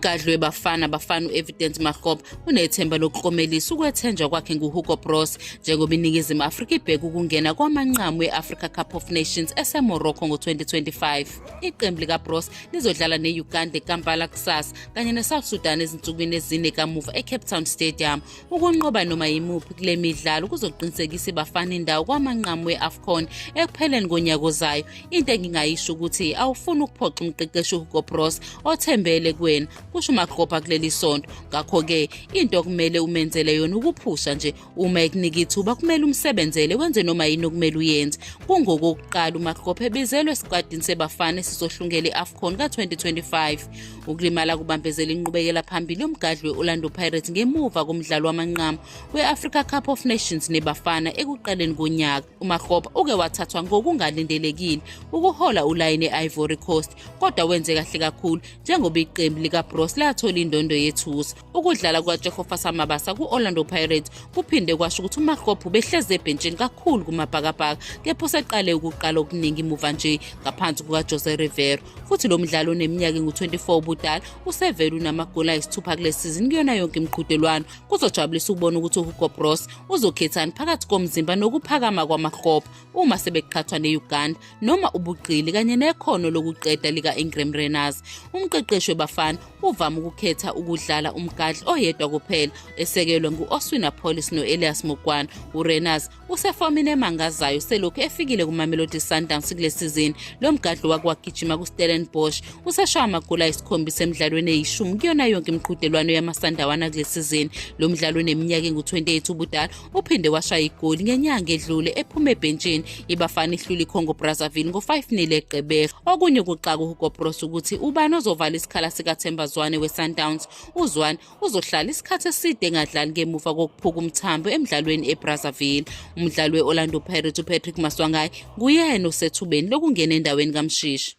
umgadli webafana bafana u-evidence mahob unethemba lokuklomelisa ukwethenjwa kwakhe nguhugo bros njengoba iningizimu afrika ibheke ukungena kwamanqamu e-africa cup of nations esemorocco ngo-2025 iqembu likabros lizodlala ne-uganda ekampala kusasa kanye nesouth sudan ezinsukwini ezine kamuva ecape town stadium Ukunqoba noma yimuphi kule midlalo kuzoqinisekisa ibafana indawo kwamanqamu we-afcon ekupheleni konyaka ozayo into engingayisho ukuthi awufuni ukuphoxa umqeqeshi uhugo bros othembele kuwena kusho umakropa kuleli sonto ngakho-ke into okumele umenzele yona ukuphusha nje uma ekunika ithuba kumele umsebenzele wenze noma yini okumele uyenze kungokokuqala umakropa ebizelwe esikwatini sebafana esizohlungela i-afcon ka-2025 Ukulimala kubambezela inqubekela phambili yomgadli we-Orlando Pirates ngemuva komdlalo wamanqamu we-Africa Cup of Nations neBafana ekuqaleni konyaka. UMakgopa uke wathathwa ngokungalindelekile ukuhola ulayini e-Ivory Coast kodwa wenze kahle kakhulu njengoba iqembu likaBroos lathola indondo yethusa. Ukudlala kukaJehova Samabasa ku-Orlando Pirates kuphinde kwasho ukuthi uMakgopho ubehleze ebhentshini kakhulu kumabhakabhaka kepha useqale ukuqala okuningi muva nje ngaphansi kukaJose Rivero futhi lo mdlali oneminyaka engu-24 ubudala usevele unamagoli ayisithupha kule sizini kuyona yonke imiqhudelwano kuzojabulisa ukubona ukuthi uhugo bros uzokhethani phakathi komzimba nokuphakama kwamakgopho uma sebeqhathwa ne-uganda noma ubuqili kanye nekhono lokuqeda lika-ingram renars umqeqeshi webafana uvame ukukhetha ukudlala umgadli oyedwa kuphela esekelwe ngu-oswina polis no-elias mukwana urenars usefomini emangazayo selokhu efikile kumamelodi sundowns kule sizini lo mgadli wake wagijima kustellenbosch useshaya amagoli ayisikhombisa emidlalweni eyishumi kuyona yonke imiqhudelwano yamasandawana kule sizini lo mdlalo uneminyaka engu-28 ubudala Uphinde washaya igoli ngenyanga edlule ephuma ebhentshini ibafana ihlula iCongo Brazzaville ngo-5-0 eGqeberha. Okunye ukuxaka uHugo Broos ukuthi ubani ozovala isikhala sikaThemba Zwane weSundowns. UZwane uzohlala isikhathi eside engadlali ngemuva kokuphuka umthambo emdlalweni eBrazzaville. Umdlali we-Orlando Pirates uPatrick Maswangayi nguyena osethubeni lokungena endaweni kaMshishi.